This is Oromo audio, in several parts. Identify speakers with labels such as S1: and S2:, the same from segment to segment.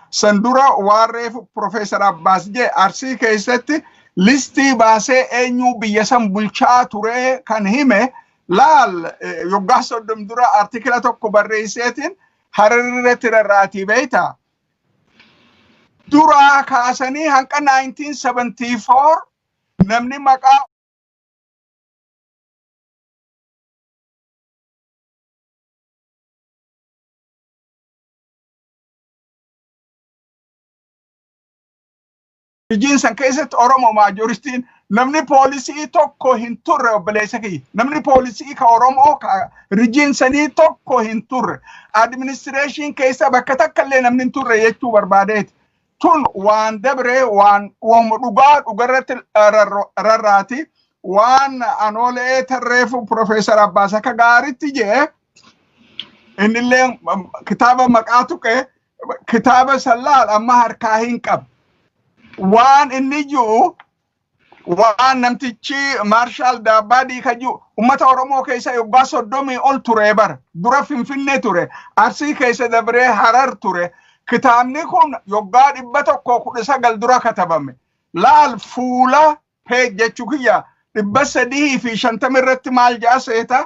S1: san dura waan reefu Profeesar Abbaas jee Arsii keessatti listii baasee eenyu biyya san bulchaa ture kan hime laal yoggaa soddom dura artikila tokko barreesseetiin hararratti rarraatii beeyta. Duraa kaasanii hanqa 1974 namni maqaa Hojiin san keessatti Oromoo maajoristiin namni poolisii tokko hin turre obboleessa kiyya. Namni poolisii ka Oromoo ka rijiin sanii tokko hin turre. Administireeshiin keessa bakka takka illee namni hin turre jechuu barbaadeeti. tun waan dabree waan wama dhugaa dhugarratti rarraati waan anoolee tarreefu Profeesar Abbaas akka gaaritti jee innillee kitaaba maqaa tuqe kitaaba sallaal amma harkaa hin qabu. Waan inni jiru waan namtichi maarshaal daabbaadii kajuu ummata oromoo keessa yoggaa soddomii ol ture bar dura finfinnee ture arsii keessa dabree harar ture kitaabni kun yoggaa dhibba tokko kudha sagal dura katabame laal fuula peej jechuu kiyya dhibba sadii fi shantama irratti maal ja'a seeta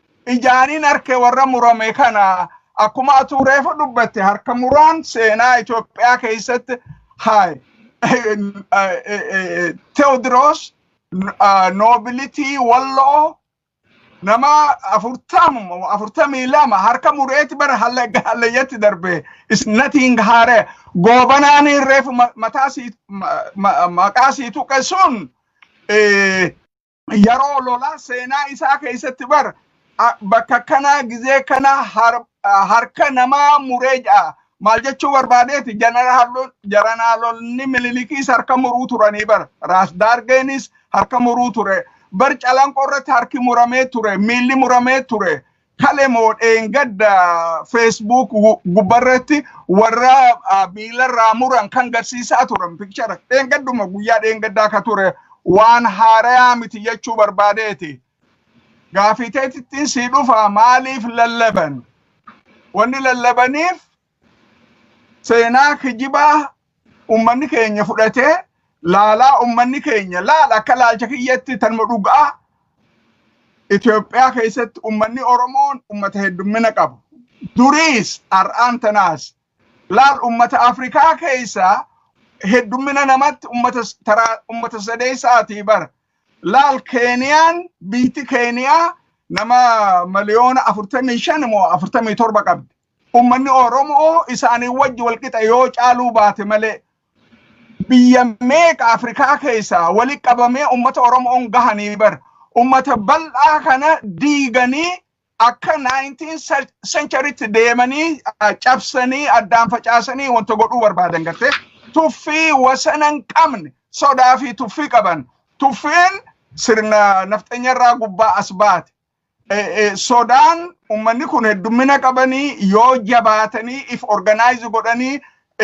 S1: ijaanin arke warra murame kana akkuma atuu reefu dubbatte harka muraan seenaa Itoophiyaa keessatti haay Teewodiroos noobilitii walloo nama afurtamuma afurtamii lama harka mureeti bara hallayyatti darbe is nothing haare goobanaanii reefu mataa sii maqaa sii tuqe sun yeroo lolaa seenaa isaa keessatti bar a- bakka kanaa gizee kana har- harka namaa muree ja'a. Maal jechuu barbaadeeti janaraalonni jaranaalonni mililikiis harka muruu turanii bar raas daargeenis harka muruu ture bar calanqoo irratti harki muramee ture miilli muramee ture kale moo dheengadda Facebook gubbarratti warra miilarraa muran kan garsiisaa turan pikchara dheengadduma guyyaa dheengaddaa ka ture waan haarayaa miti jechuu barbaadeeti. Gaafiteetittiin sii dhufaa maaliif lallaban? Wanni lallabaniif seenaa kijibaa ummanni keenya fudhatee laalaa ummanni keenya laala akka laalcha kiyyatti tanuma dhugaa Itoophiyaa keessatti ummanni Oromoon ummata heddummina qabu. Duriis har'aan tanaas laal ummata Afrikaa keessaa heddummina namatti ummata s- taraa ummata sadeessaatii bara. Laal Keeniyaan biitti Keeniyaa nama miliyoona 45 moo 47 qabdi. Ummanni Oromoo isaanii wajji walqixa yoo caaluu baate malee biyya meeqa Afrikaa keessaa wali qabamee ummata Oromoon gahanii bar ummata bal'aa kana diiganii akka 19 centurytti deemanii cabsanii addaan facaasanii wanta godhuu barbaadan gartee tuffii wasana hin qabne sodaa fi tuffii qaban tuffiin sirna nafxanyarraa gubbaa as baate sodaan ummanni kun heddummina qabanii yoo jabaatanii if organaayizi godhanii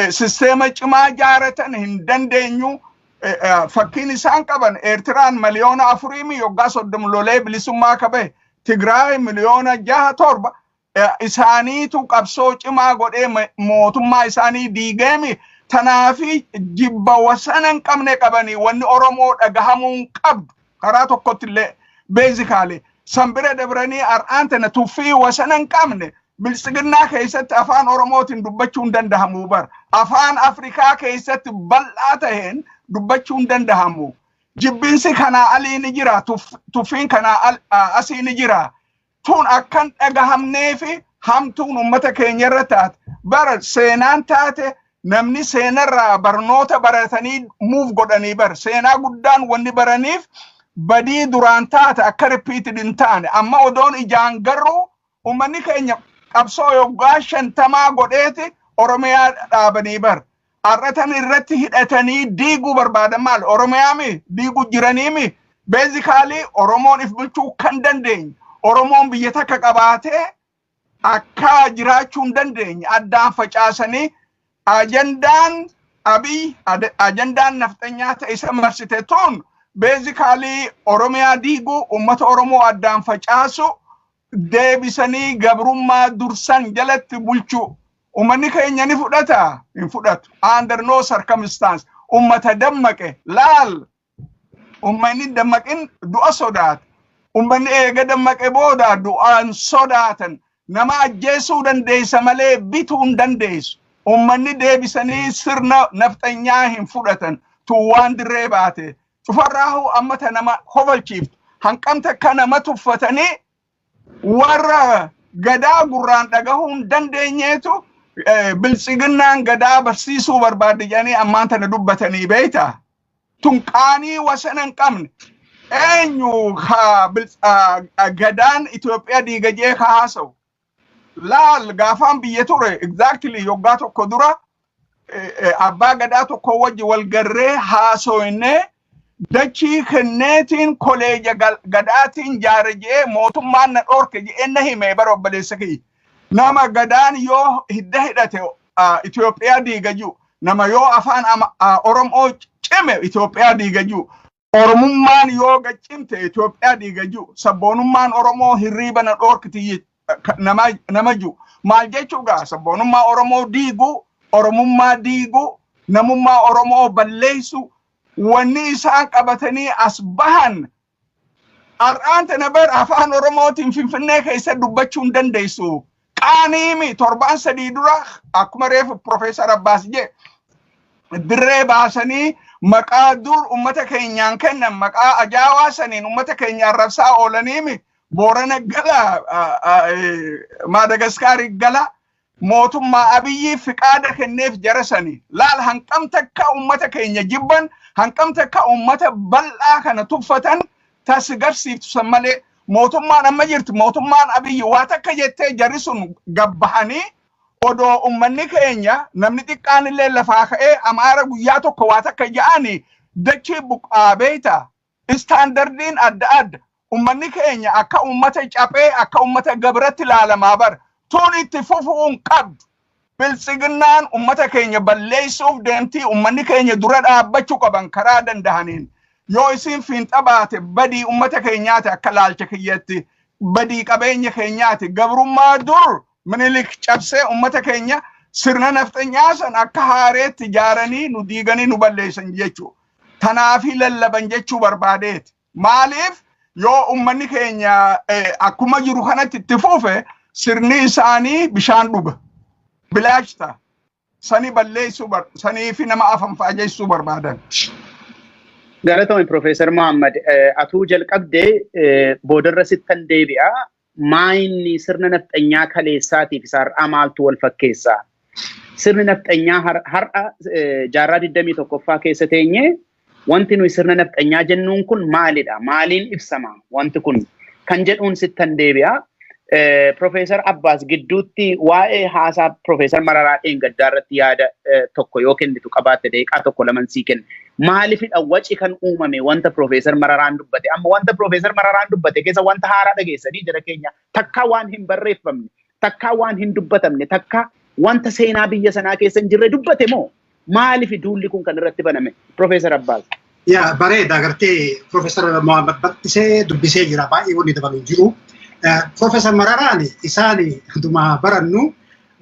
S1: sisteema cimaa jaaratan hin dandeenyu. Fakkiin isaan qaban Eertiraan miliyoona afuriimi yoggaa soddom lolee bilisummaa qabe Tigraay miliyoona jaha torba isaaniitu qabsoo cimaa godhee mootummaa isaanii diigeemi tanaafi jibba wasana hin qabne qabanii wanni Oromoo dhagahamuu hin qabdu karaa tokkotti illee beezikaalee san bira dabranii har'aan tana tuffii wasana hin qabne biltsiginnaa keessatti afaan Oromootiin dubbachuu hin dandahamu bar afaan Afrikaa keessatti bal'aa taheen dubbachuu hin dandahamu jibbinsi kanaa alii ni jira tuffiin kanaa asii ni jira tun akkan dhagahamnee fi hamtuun uummata keenya irra taate bara seenaan taate namni seenarraa barnoota baratanii muuf godhanii bar seenaa guddaan wanni baraniif badii duraan taate akka ripiitid hin taane amma odoon ijaan garuu uummanni keenya qabsoo yoggaa shantamaa godheeti oromiyaa dhaabanii bar Har'atan irratti hidhatanii diiguu barbaadan maal? Oromiyaami diiguu jiraniimi. Beezikaalii Oromoon if bulchuu kan dandeenye, Oromoon biyya takka qabaatee akka jiraachuu hin dandeenye addaan facaasanii ajandaan abiy ajandaan nafxanyaa ta'e isa marsite tun beezikaalii Oromiyaa diiguu, uummata Oromoo addaan facaasu, deebisanii gabrummaa dursan jalatti bulchuu ummanni keenya ni fudhata hin fudhatu under no circumstance ummata dammaqe laal ummanni dammaqin du'a sodaata ummanni eega dammaqe booda du'aan sodaatan nama ajjeesuu dandeessa malee bituu hin dandeessu ummanni deebisanii sirna nafxanyaa hin fudhatan tuwwaan dirree baate Cufarraahu amma ta nama kofalchiiftu hanqamte akka nama tuffatanii warra gadaa gurraan dhagahuu hin dandeenyeetu eh, biltsiginnaan gadaa barsiisuu barbaaddi jedhanii ammaan tana dubbatanii beeyta. Tun qaanii wasana hin qabne. Eenyu ka bilts- ah, ah, gadaan Itoophiyaa diigajee ka haasawu. Laal gaafaan biyya ture exactly yoggaa tokko dura eh, eh, abbaa gadaa tokko wajji wal garree haasoyne dachii kenneetiin koleeja gal- gadaatiin jaare je'ee mootummaan na dhoorke je'ee na hime bara obboleessa kiyya. Nama gadaan yoo hidda hidhate ah, Itoophiyaa diiga jiru. Nama yoo afaan ama- ah, Oromoo cime Itoophiyaa diiga jiru. Oromummaan yoo gad cimte Itoophiyaa diiga ji'u. Sabboonummaan Oromoo hirriiba na dhoorkiti je- ka- nama nama ji'u. Maal jechuu gaa sabboonummaa Oromoo diigu, Oromummaa diigu, namummaa Oromoo balleessu, wanni isaan qabatanii as bahan har'aan tana bar afaan Oromootiin Finfinnee keessa dubbachuu hin dandeessu. Qaaniimi torbaan sadii dura akkuma reefu Profeesar Abbaas jee dirree baasanii maqaa dur ummata keenyaan kennan maqaa ajaawaa saniin ummata keenya arrabsaa oolaniimi Boorana gala Maadagaskaarii gala mootummaa Abiyyiif fiqaada kenneef jara sanii laal hanqam takka ummata keenya jibban hanqam takka ummata bal'aa kana tuffatan tasigarsiiftu san malee mootummaan amma jirtu mootummaan abiyyi waa takka jettee jarri sun gabbahanii odoo ummanni keenya namni xiqqaan illee lafaa ka'ee amaara guyyaa tokko waa takka ja'ani dachii buqqaa beeyta istaandardiin adda adda ummanni keenya akka ummata caphee akka ummata gabratti laalamaa bar tuun itti fufuun qabdu Biltsiginnaan ummata keenya balleessuuf deemtii ummanni keenya dura dhaabbachu qaban karaa dandahaniin yoo isiin fiinxa baate badii ummata keenyaati akka laalcha kiyyatti badii qabeenya keenyaati gabrummaa dur minilik cabsee ummata keenya sirna nafxanyaa san akka haareetti jaaranii nu diiganii nu balleessan jechuu tanaafi lallaban jechuu barbaadeeti. Maaliif yoo ummanni keenya akkuma jiru kanatti itti fufe sirni isaanii bishaan dhuga. Bilaash ta'a. Sani balleessuu sanii fi nama afan faajessuu barbaadan.
S2: Galatoomi Piroofeesar Mohaammed atuu jalqabdee boodarra sittan deebi'a. maayinni sirna nafxanyaa kaleessaatii fi har'aa maaltu wal fakkeessa? Sirni nafxanyaa har'a jaarraa 21ffaa keessa teenye wanti nuyi sirna nafxanyaa jennuun kun maalidha? Maaliin ibsama wanti kun? Kan jedhuun sittan deebi'a. Profeesar Abbaas gidduutti waa'ee haasaa Profeesar Mararaa dheengaddaa irratti yaada tokko yoo kennitu qabaatte daqiiqaa tokko laman sii kenna. maalifidha waci kan uumame wanta Piroofeesar Mararaan dubbate amma wanta Piroofeesar Mararaan dubbate keessa wanta haaraa dhageessanii jira keenya takkaa waan hin barreeffamne takkaa waan hin dubbatamne takkaa wanta seenaa biyya sanaa keessa hin jirre dubbate moo maalifi duulli kun kan irratti baname Piroofeesar Abbaas? Yaa bareeda
S3: agartee Piroofeesar Mohaammed Battisee dubbisee jira baay'ee wanni dabalu hin jiru. Piroofeesar Mararaan isaan dhuma barannu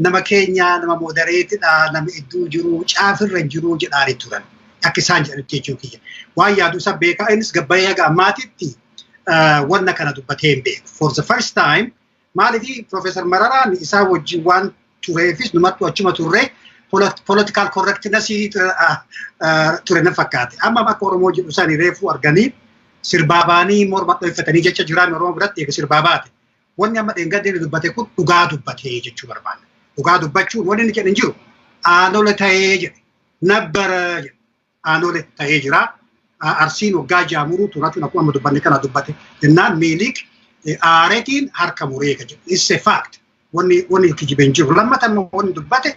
S3: nama keenya nama moodareetidha nama iddoo jiru caafirra jiru jedhaani turan akka isaan jedhanitti jechuu kiyya waan yaadu isa beekaa innis gabbayee haga ammaatitti wanna kana dubbatee hin beeku for the first time maalifi Profeesar Mararaan isaa wajjin waan tureefis numattu achuma turre political correctness ture na fakkaate amma akka Oromoo jedhu isaanii reefuu arganii sirbaa baanii morma dhooffatanii jecha jiraan Oromoo biratti eega sirbaa baate Wanni amma dheengadda inni dubbate kun dhugaa dubbatee jechuu barbaada. Dhugaa dubbachuun wanni inni jedhe hin jiru. Aanole ta'ee jedhe. Nabbara jedhe. Aanole ta'ee jira. Arsiin waggaa ja'a muruu turatu akkuma amma dubbanne kana dubbate. Jennaan miiliik aaretiin harka muree ka jedhu. It's a fact. Wanni wanni kijibee hin jiru. Lammata immoo wanni dubbate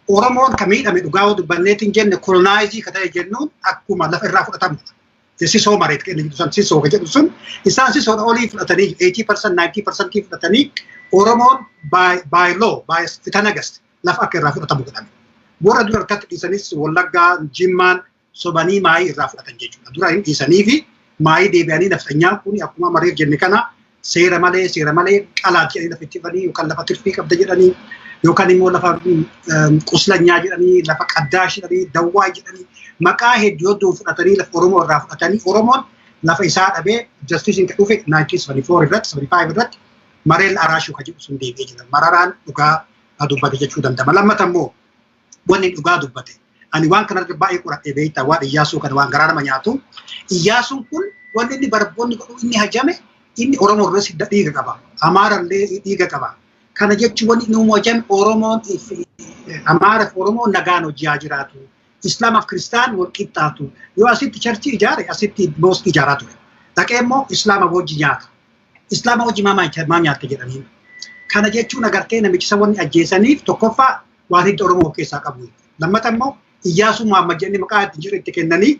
S3: Oromoon ka miidhame dhugaa yoo dubbanneetiin jenne kolonaaizii ka ta'e jennuun akkuma lafa irraa fudhatamudha. sisoo mareet kenna jedhu san sisoo ka jedhu sun isaan sisoodha olii fudhatanii 80% 90% fudhatanii Oromoon by law by fitanagas lafa akka irraa fudhatamu godhame. Warra dura harkatti dhiisanis Wallaggaa Jimmaan sobanii maayii irraa fudhatan jechuudha. Dura hin dhiisanii fi maayii deebi'anii nafxanyaan kun akkuma mareef jenne kana seera malee seera malee qalaat jedhanii lafa itti fanii yookaan lafa tirfii qabda jedhanii yookaan immoo lafa quslanyaa jedhanii lafa qaddaash jedhanii dawwaa jedhanii maqaa hedduu hedduu fudhatanii lafa Oromoo irraa fudhatanii Oromoon lafa isaa dhabee jastisiin kan dhufe 1974 irratti 75 irratti mareel araashuu kan jedhu sun deebi'ee jira mararaan dhugaa dubbate jechuu danda'ama lammata immoo wanni dhugaa dubbate. Ani waan kana irratti baay'ee qoradhee beektaa waan Iyyaasuu kana waan garaa nama nyaatu. Iyyaasuun kun wanni inni barboonni godhu inni hajame inni Oromoo irra sidda dhiiga qaba. Amaara illee dhiiga qaba. Kana jechuun wanni inni uumuu hajame Oromoon Amaara fi Oromoo nagaan hojii haa jiraatu. Islaamaaf Kiristaan wal qixxaatu. Yoo asitti charchii ijaare asitti mooskii ijaaraa ture. Dhaqee immoo Islaama wajji nyaata. Islaama wajji maa nyaata jedhaniin. Kana jechuun agartee namichisa wanni ajjeesaniif tokkoffaa waan hidda Oromoo of keessaa qabu. Lammata immoo Iyyaasuu Muhammad jedhanii maqaa itti jiru itti kennanii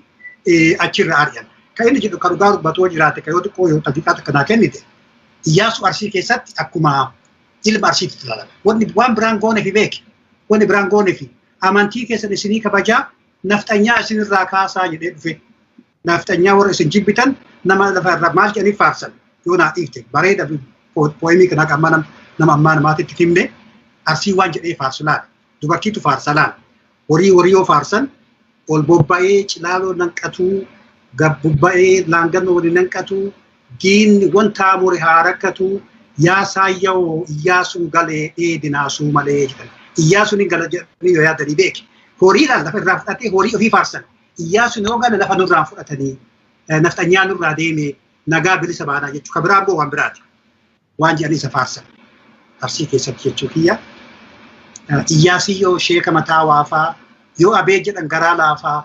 S3: achirra ari'an. Kan inni jedhu kan dhugaa dubbatoo jiraate kan yoo xiqqoo yoo tafiqaa takka naa kennite Iyyaasuu Arsii keessatti akkuma ilma Arsiitti ilaalama. Wanni waan biraan goone fi beeke wanni biraan goone fi amantii keessan isinii kabajaa nafxanyaa isinirraa kaasaa jedhee dhufe. naafxanyaa warra isin jibbitan nama lafa irra maal jedhanii faarsan yoo naa dhiifte bareeda pooyimii kanaa kan mana nama ammaa namaatitti himne arsii waan jedhee faarsu laala dubartiitu faarsa laala horii horii yoo faarsan ol bobba'ee cilaaloo nanqatuu gab bobba'ee laangannoo waliin nanqatuu diinni wanta amore haa rakkatu yaa saayyawoo iyyaasuun galee dheedinaasuu malee jedhan iyyaasuun hin gala jedhanii yoo yaadanii beeki horiidhaan lafa irraa fudhatee horii ofii faarsan Iyyaasuun yoo gale lafa nurraa fudhatanii nafxanyaa nurraa deemee nagaa bilisa baanaa jechuu ka biraa immoo waan biraati. Waan jedhanii isa faarsan. Arsii keessatti jechuu kiyya. Iyyaasii yoo sheeka mataa waafaa yoo abee jedhan garaa laafaa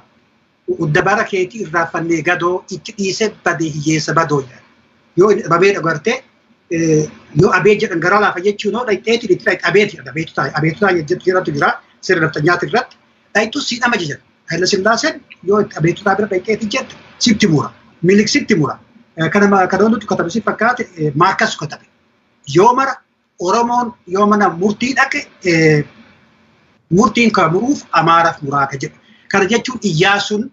S3: udda bara keetii irraa fannee gadoo itti dhiisee badee hiyyeessa badoo jedhan. Yoo inni dhabamee dhagartee yoo abee jedhan garaa laafa jechuun hoo dhaqxeetiin itti dhaqxe abeeti abeetu taa'e abeetu taa'e jedhu jedhatu jira sirna nafxanyaati irratti dhayxu si dhama jedha. Hayla Sillaaseen yoo itti abeetutaa bira dhayxeeti jette sitti mura. Milik sitti mura. Kana kana hundatu katabe si fakkaate Maarkas katabe. Yoo mara Oromoon yoo mana murtii dhaqe murtiin kan muruuf Amaaraaf muraa ka jedhu. Kana jechuun Iyyaasuun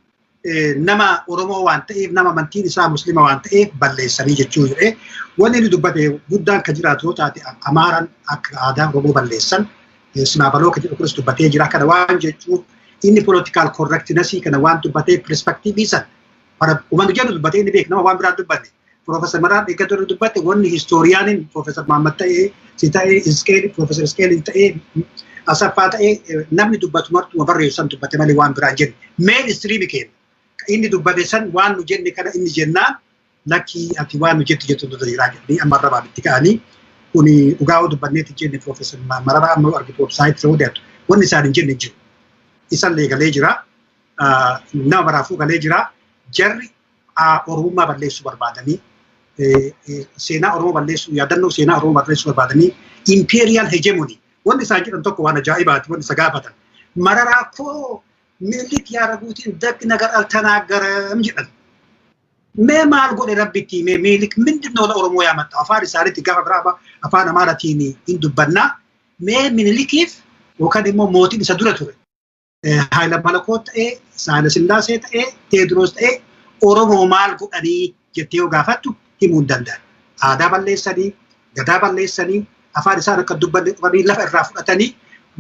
S3: nama Oromoo waan ta'eef nama amantiin isaa muslima waan ta'eef balleessanii jechuu jedhee wanni inni dubbate guddaan kan jiraatu yoo taate Amaaran akka aadaa Oromoo balleessan Sinaabaloo kan jedhu kunis dubbatee jira kana waan jechuun inni political correctness kana waan dubbatee perspective san bara uumamni jedhu dubbatee inni beeku nama waan biraa dubbanne Professor Maraan eeggatu irra dubbatte wanni historiyaaniin Professor Mahammad ta'ee si ta'ee Iskeeli Professor Iskeeli ta'ee Asaffaa ta'ee namni dubbatu martuma barreessu san dubbate malee waan biraan jenne meen istiriimi keenya inni dubbate san waan nu jenne kana inni jennaan lakkii ati waan nu jettu jettu dura jiraa jedhanii amma arrabaan itti ka'anii kuni dhugaa yoo dubbanneetti jenne Professor Mararaa amma argitu website ta'uu deemtu wanni isaan hin jenne jiru isallee galee jira nama maraafuu galee jira jarri Oromummaa balleessuu barbaadanii seenaa Oromoo balleessuu yaadannoo seenaa Oromoo balleessuu barbaadanii imperial hegemony wanti isaan jedhan tokko waan ajaa'ibaati wanti isa gaafatan mararaa koo Minilik yaa raguutiin datti nagar altanaagaram jedhan. Mee maal godhe rabbitti mee Minilik mindin noola Oromoo yaa maxxaa afaan isaaniitti gaafa biraaba afaan Amaaratiin hin dubbannaa mee Minilikiif yookaan immoo mootiin isa dura ture. Haayila Malakoot ta'ee, Saayila Sillaasee ta'ee, Teediroos ta'ee Oromoo maal godhanii jettee yoo gaafattu himuu hin danda'an. Aadaa balleessanii, gadaa balleessanii, afaan isaan akka dubbanne dhufanii lafa irraa fudhatanii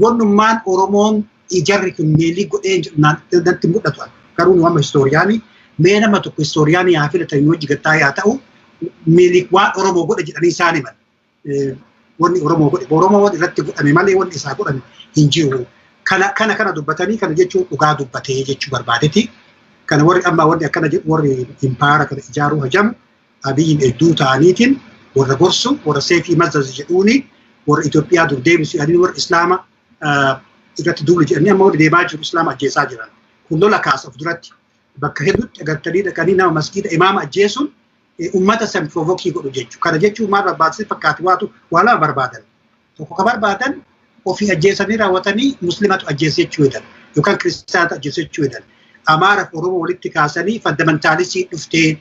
S3: wannummaan Oromoon ijarri kun meelii godhee jedhu natti mul'atu. Garuu nu amma istooriyaanii mee nama tokko istooriyaanii haa filatan yoo jigattaa yaa ta'u meelii waan Oromoo godhe jedhanii isaan himan. wanni Oromoo godhe Oromoo wanni irratti godhame malee wanni isaa godhame hin jiru. Kana kana kana dubbatanii kana jechuun dhugaa dubbatee jechuu barbaadeti. Kana warri amma warri akkana jedhu warri impaara kana ijaaruu hajamu abiyyiin hedduu ta'aniitiin warra gorsu warra seefii mazzazi jedhuuni warra Itoophiyaa dur deebisu yaadni warra Islaama irratti duulu jedhanii amma warri deemaa jiru Islaama ajjeesaa jiran. Kun lola kaasa of duratti bakka hedduutti agartanii dhaqanii nama masgiida imaama ajjeesuun ummata san provokii godhu jechuudha. Kana jechuun maal barbaachise fakkaatu waatu waa lama barbaadan. Tokko ka barbaadan ofii ajjeesanii raawwatanii muslimatu ajjeese jechuu jedhan yookaan kiristaanatu ajjeese jechuu jedhan. Amaara fi Oromoo walitti kaasanii fandamantaalisii dhuftee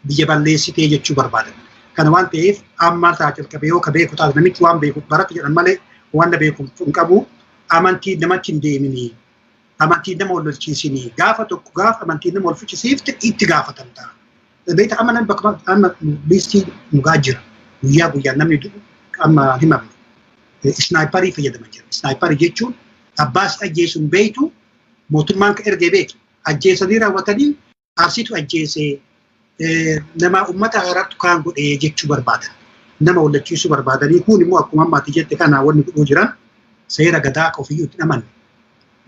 S3: biyya balleessitee jechuu barbaadan. Kana waan ta'eef amma ta'a jalqabee yoo ka beeku taate namichi waan beeku barate jedhan malee waan na beeku hin qabu. Amantiin namatti hin deeminii. Amantiin nama wal lolchiisinii. Gaafa tokko gaafa amantiin nama wal fichisiifte itti gaafatamta. Beekta amma namni bakka amma liistii dhugaa jira. Guyyaa guyyaan namni du'u amma himame. Isnaayiparii fayyadama jira. Isnaayiparii jechuun abbaa si ajjeesu hin beektu mootummaan ka ergee beektu ajjeesanii raawwatanii arsiitu ajjeesee nama uummata haraartu kaan godhee jechuu barbaadan. Nama wallachiisuu barbaadanii kun immoo akkuma ammaati jette kana wanni godhuu jiran seera gadaa akka ofiyyuu itti amanne.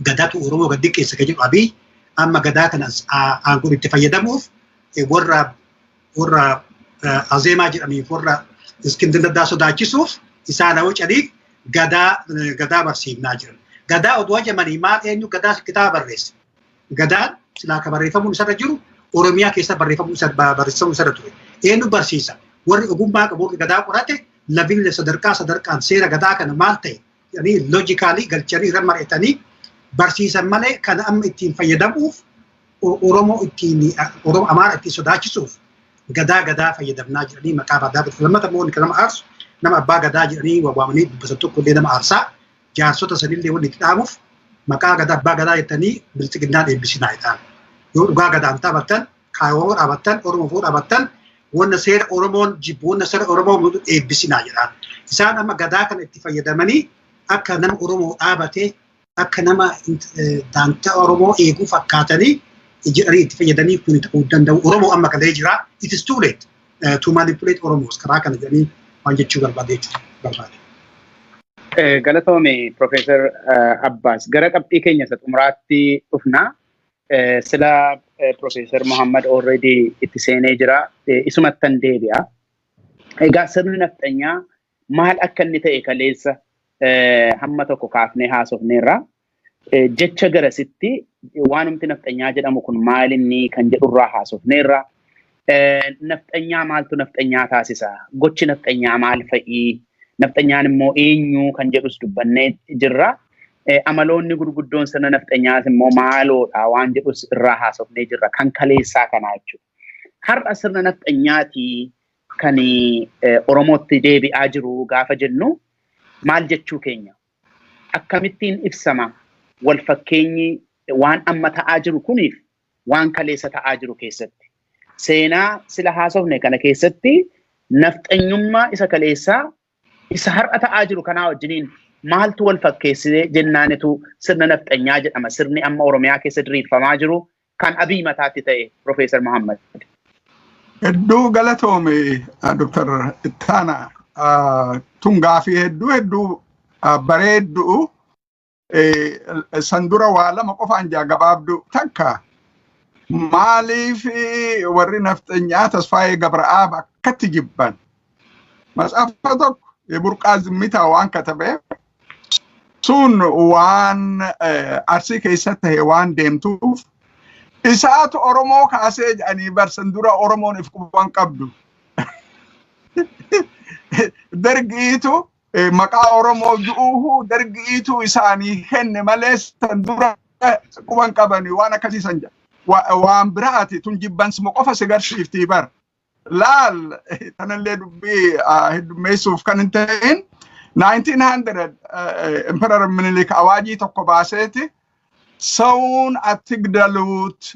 S3: gadaatu Oromoo gad xiqqeessa kan jedhu Abiy amma gadaa kana aangoon itti fayyadamuuf warra warra azeemaa jedhaniif warra iskindir daddaa sodaachisuuf isaan hawwa caliif gadaa gadaa barsiifnaa jiran. Gadaa oduu hajamanii maal eenyu gadaa kitaaba barreesse. Gadaan silaa kan barreeffamuun isarra jiru Oromiyaa keessa barreeffamuun isa barreeffamuun isarra ture. Eenyu barsiisa? Warri ogummaa qabu warri gadaa qorate labiin sadarkaa sadarkaan seera gadaa kana maal ta'e jedhanii loojikaalii galchanii irra mari'atanii barsiisan malee kan amma ittiin fayyadamuuf Oromoo ittiin Oromoo Amaara ittiin sodaachisuuf gadaa gadaa fayyadamnaa jedhanii maqaa badaa godhatu. Lammata immoo kan nama aarsu nama abbaa gadaa jedhanii waamanii dubbatan tokko illee nama aarsaa jaarsota sanillee wanni itti dhaamuuf maqaa gadaa abbaa gadaa jettanii bilxiginnaan eebbisinaa jedhaan. Yoo dhugaa gadaan taphattan Kan Oromoo dhaabattan, Oromoo fuu dhaabattan, wanna seera Oromoon jibbu, wanna seera Oromoo mudu eebbisinaa jedhaan. Isaan amma gadaa kana itti fayyadamanii akka nama Oromoo dhaabate, akka nama daantaa Oromoo eeguu fakkaatanii jedhanii itti fayyadanii kun ta'uu hin danda'u. Oromoo amma galee jira. It is too late to manipulate Oromos karaa kana jedhanii waan jechuu barbaade jechuudha barbaade. Galatoome
S2: Profeesar Abbaas gara qabxii keenya isa xumuraatti dhufna. Sila Profeesar Muhammad already itti seenee jira. Isumattan deebi'a. Egaa sirni nafxanyaa maal akka inni ta'e kaleessa hamma tokko kaafnee haasofneerra. Jecha garasitti waanumti nafxanyaa jedhamu kun maal inni kan jedhurraa haasofneerra. Nafxanyaa maaltu nafxanyaa taasisa? Gochi nafxanyaa maal fa'i? Nafxanyaan immoo eenyu kan jedhus dubbannee jirra. Amaloonni gurguddoon sirna nafxanyaas immoo maaloodha waan jedhus irraa haasofnee jirra. Kan kaleessaa kanaa jechuudha. Har'a sirna nafxanyaati kan Oromootti deebi'aa jiru gaafa jennu maal jechuu keenya? Akkamittiin ibsama? Wal fakkeenyi waan amma ta'aa jiru kuniif waan kaleessa ta'aa jiru keessatti. Seenaa sila haasofne kana keessatti nafxanyummaa isa kaleessaa isa har'a ta'aa jiru kanaa wajjiniin maaltu wal fakkeessee jennaanitu sirna nafxanyaa jedhama. Sirni amma Oromiyaa keessa diriirfamaa jiru kan abii mataatti ta'e Profeesar Muhammad. Hedduu
S1: galatoome Dr. Ittaana. Tun gaafii hedduu hedduu bareedduu san dura waa lama qofaan jaa gabaabdu takka maaliif warri nafxanyaa tasfaayee gabra'aab akkatti jibban matsaafa tokko burqaa zimmitaa waan katabe sun waan arsii keessa tahe waan deemtuuf isaatu oromoo kaasee jedhanii barsan dura oromoon if quban qabdu dargiitu eh, maqaa Oromoo ju'uuhu dargi'iitu isaanii kenne malee san dura quban qabani waan akkasii san jedha. Wa- Waan biraati tun jibbansuma qofa si garsiiftii bar. Laal eh, tanallee dubbii ah, heddummeessuuf kan hin ta'in 1900 eh, eh, Emperor Minilik awaajii tokko baaseeti sawuun attigdaluut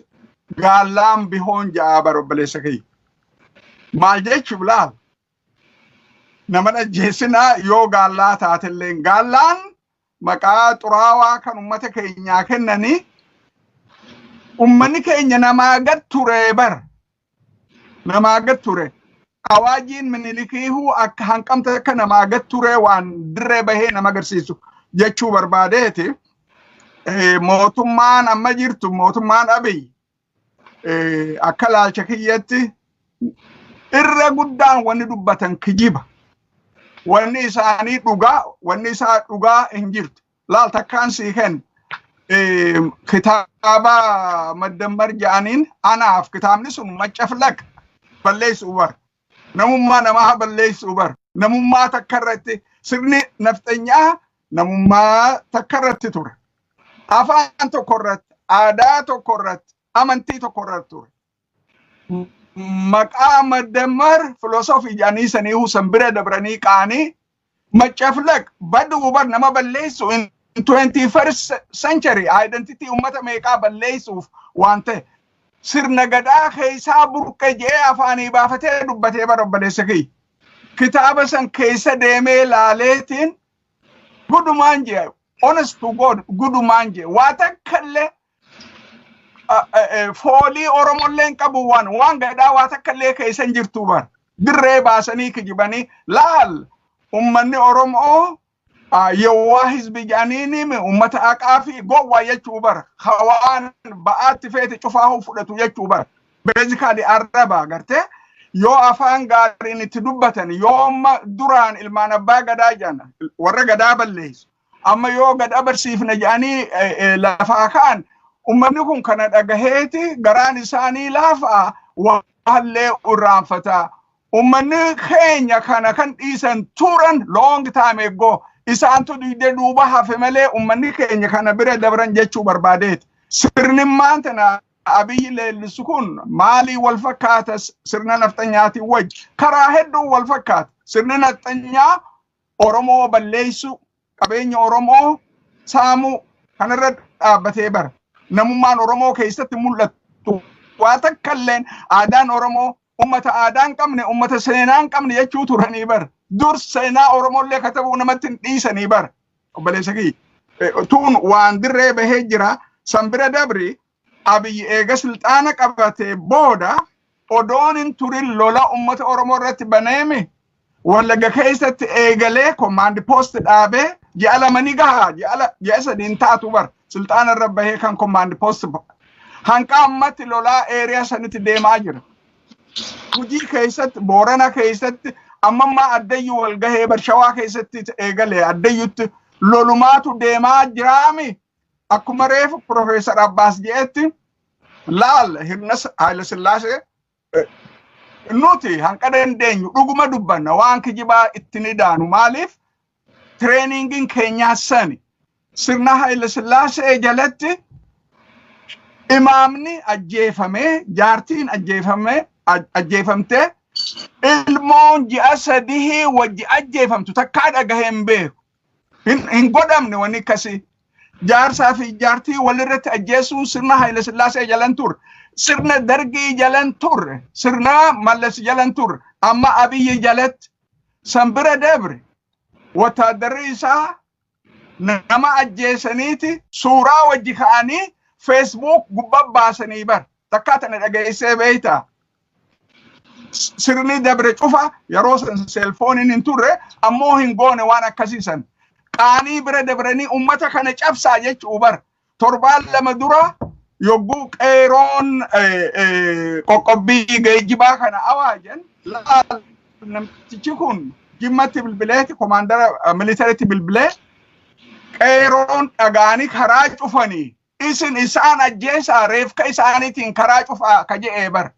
S1: gaallaan bihoon ja'a bara obboleessa kiyya. Maal jechuuf laal? naman ajjeesina yoo gaallaa taatelleen gaallaan maqaa xuraawaa kan ummata keenyaa kennanii ummanni keenya namaa gad ture bar namaa gad ture awaajiin minilikiihuu akka hanqamta akka namaa gad ture waan dirree bahee nama agarsiisu jechuu barbaadeeti mootummaan amma jirtu mootummaan abiy eh, akka laalcha kiyyatti irra guddaan wanni dubbatan kijiba. Wanni isaanii dhugaa, wanni isaa dhugaa hin jirtu. Laal takkaan sii kenna. Eh, Kitaaba maddammar ja'aniin anaaf kitaabni sun maccaflaq balleessu bar. namummaa namaa balleessuu bar namummaa takka irratti sirni nafxanyaa namummaa takka irratti ture afaan tokko irratti aadaa tokko irratti amantii tokko irratti ture maqaa madammar filosofii jedhanii sanii husan bira dabranii qaanii Maccaflaq baduu bar nama balleessu in 21st century identity ummata meeqaa balleessuuf waan ta'e sirna gadaa keessaa burqe je'ee afaanii baafatee dubbatee bar obboleessa kiyya. Kitaaba san keessa deemee laaleetiin gudumaan je'a honest to God gudumaan je'a waa takkallee foolii Oromollee hin qabu waan waan gadaa waa takka illee keessa hin jirtu bar dirree baasanii kijibanii laal ummanni Oromoo yowwaa hizbi jedhaniin ummata haqaa fi gowwaa jechuu bar hawaan ba'aatti feete cufaa fudhatu jechuu bar beezikaali arraba agartee yoo afaan gaariin itti dubbatan yoo amma duraan ilmaan abbaa gadaa jedhan warra gadaa balleessu amma yoo gad abarsiifne jedhanii lafaa ka'an ummanni kun kana dhagaheeti garaan isaanii laafaa waallee irraanfataa ummanni keenya kana kan dhiisan turan long time ago isaantu duyde duuba hafe malee ummanni keenya kana bira dabran jechuu barbaadeeti sirni maantana abiyyi leellisu kun maalii wal fakkaata sirna nafxanyaatiin wajji karaa hedduun wal fakkaata sirni nafxanyaa Oromoo balleessuu, qabeenya Oromoo saamuu kanarra dhaabbatee bara namummaan Oromoo keessatti mul'atu waa takka illeen aadaan Oromoo ummata aadaa hin qabne ummata seenaa hin qabne jechuu turanii bara dur seenaa Oromoo illee katabuu namatti hin dhiisanii bara obboleessa kiyya. Tuun waan dirree bahee jira san bira dabri Abiy eega silxaana qabatee booda odoon hin turin lola ummata Oromoo irratti baneemi Wallagga keessatti eegalee komaandi poosti dhaabee ji'a lama ni gaha ji'a sadi hin taatu bar silxaana irra bahee kan komaandi poosti hanqa ammatti lolaa eeriyaa sanitti deemaa jira. Gujii keessatti Boorana keessatti ammammaa addayyu wal gahee barshawaa keessatti eegalee addayyutti lolumaatu deemaa jiraami Akkuma reefu Profeesar Abbaas jedhetti laal hirnas Haayila Sillaasee nuti hanqa dandeenyu dhuguma dubbanna waan kijibaa itti ni daanu maaliif tireeningiin keenyaa sani sirna Haayila Sillaasee jalatti imaamni ajjeefamee jaartiin ajjeefamee ajjeefamtee ilmoon ji'a sadihii wajji ajjeefamtu takkaa dhagahee hin beeku. Hin, hin godhamne wanni akkasii. Jaarsaa fi jaartii walirratti ajjeesuun sirna Haayile Sillaasee jalan turre. Sirna Dargii jalan turre. Sirna Mallas jalan turre. Amma Abiyyi jalatti. San bira dabre. Wattaaddarri isaa nama ajjeesaniiti suuraa wajji ka'anii feesbuuk gubbaa baasanii bar. Takkaa tana dhageessee beeyta. sirni dabre cufa yeroo san seelfooniin hin turre ammoo hin goone waan akkasii san qaanii bira dabranii ummata kana cabsaa jechuu bar torbaan lama dura yogguu qeeroon eh, eh, qoqqobbii geejjibaa kana awaajan laal namtichi kun jimmatti bilbileeti komaandara militaritti bilbilee qeeroon dhagaanii karaa cufanii Isin isaan ajjeesaa reefka isaaniitiin karaa cufaa ka je'ee bar.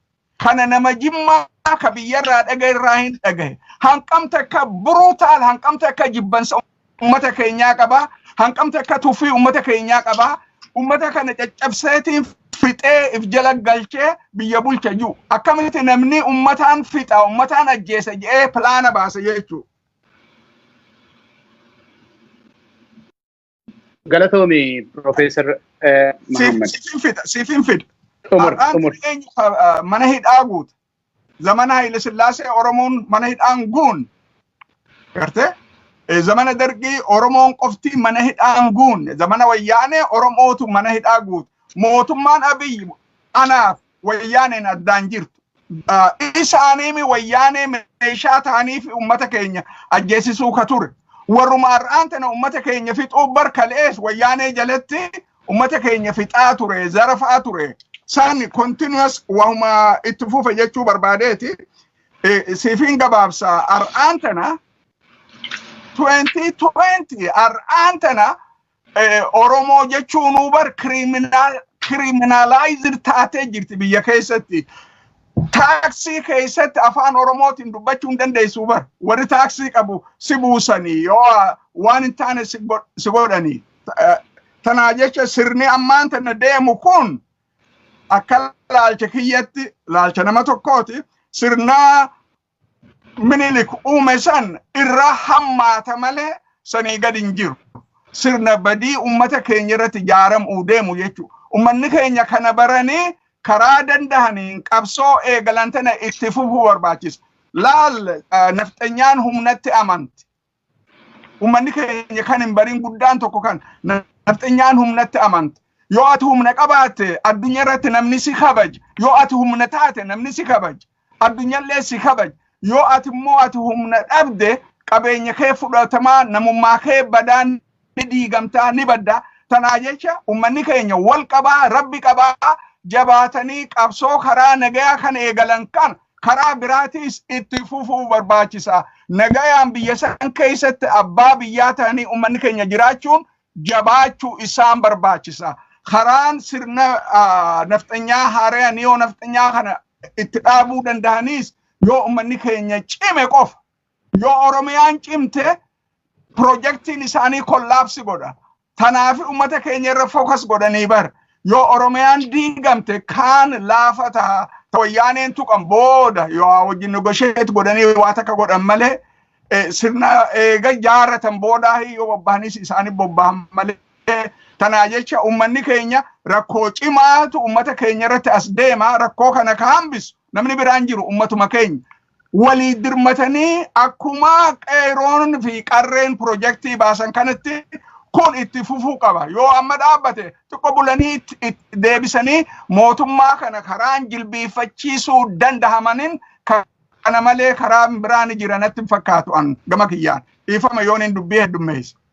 S1: Kana nama jimmaa ka biyyarraa dhagahe irraa hin dhagahe. Hanqam takka brutal hanqam takka jibbansa ummata keenyaa qaba. Hanqam takka tuffii ummata keenyaa qaba. Ummata kana caccabseetiin fixee if jala galchee biyya bulcha jiru. Akkamitti namni ummataan fixa ummataan ajjeesa je'ee pilaana baasa jechuudha.
S2: Galatoomi Profeesar Mahammad. Siifin fida, siifin
S1: fida. Xumur, Har'aan xumur.
S2: eenyu ah,
S1: mana hidhaa guute. Zamana Haile Sillaasee Oromoon mana hidhaan guun. Gartee? Eh, Zamana Dargii Oromoon qofti mana hidhaan guunne. Zamana Wayyaanee Oromootu mana hidhaa guute. Mootummaan Abiyyi anaaf wayyaaneen addaan jirtu. Isaaniimi wayyaanee meeshaa ta'anii fi uummata keenya ajjeesisuu ka ture. Warruma har'aan tana uummata keenya fixuu bar kalees wayyaanee jalatti uummata keenya fixaa ture, zarafaa ture. Saan continuous wahuma itti fufa jechuu barbaadeeti. Siifin gabaabsa har'aan tana 2020 har'aan tana Oromoo jechuun bar kiriminaalaayiziir taatee jirti biyya keessatti. Taaksii keessatti afaan Oromootiin dubbachuu hin dandeessu bar. Warri taaksii qabu si buusanii yoo waan hin taane si godhanii. Tanaa jecha sirni ammaan tana deemu kun akka laalcha kiyyatti laalcha nama tokkooti sirna minilik uume san irraa hammaata malee sanii gad hin jiru. Sirna badii ummata keenya irratti jaaramuu deemu jechuudha. Ummanni keenya kana baranii karaa dandahaniin qabsoo eegalan tana itti fufuu barbaachisa. Laal nafxanyaan humnatti amanti. Uummanni keenya kan hin barin guddaan tokko kan nafxenyaan humnatti amante. Yoo ati humna qabaatte addunyaa irratti namni si kabaja. Yoo ati humna taate namni si kabaja. Addunyallee si kabaja. Yoo ati immoo ati humna dhabde qabeenya kee fudhatamaa namummaa kee badaan ni diigamtaa ni badda tanaa jecha ummanni keenya wal qabaa rabbi qabaa jabaatanii qabsoo karaa nagayaa kan eegalan kan karaa biraatiis itti fufuu barbaachisa nagayaan biyya san keessatti abbaa biyyaa ta'anii ummanni keenya jiraachuun jabaachuu isaan barbaachisa karaan sirna ah, nafxanyaa haaraya niyoo nafxanyaa kana itti dhaabuu danda'aniis yoo ummanni keenya cime qofa Yoo Oromiyaan cimte pirojektiin isaanii kollaapsi godha. Tanaafi uummata keenya irra fookas godhanii bar. Yoo Oromiyaan diigamte kaan laafa ta'a. Ta wayyaaneen tuqan booda yoo haa wajjin negosheet godhanii waa takka godhan malee eh, sirna eega jaaratan boodaa yoo bobbahanis isaanii bobbahan malee tanaa jecha uummanni keenya rakkoo cimaatu uummata keenya irratti as deema rakkoo kana ka hambisu namni biraan jiru uummatuma keenya. walii dirmatanii akkuma qeeroon fi qarreen pirojektii baasan kanatti kun itti fufuu qaba. Yoo amma dhaabbate xiqqoo bulanii itti- itti deebisanii mootummaa kana karaan jilbiifachiisuu danda'amaniin ka- kana malee karaa biraan jiranatti hin fakkaatu an gama kiyyaan. Dhiifama yoon hin dubbii heddummeessa.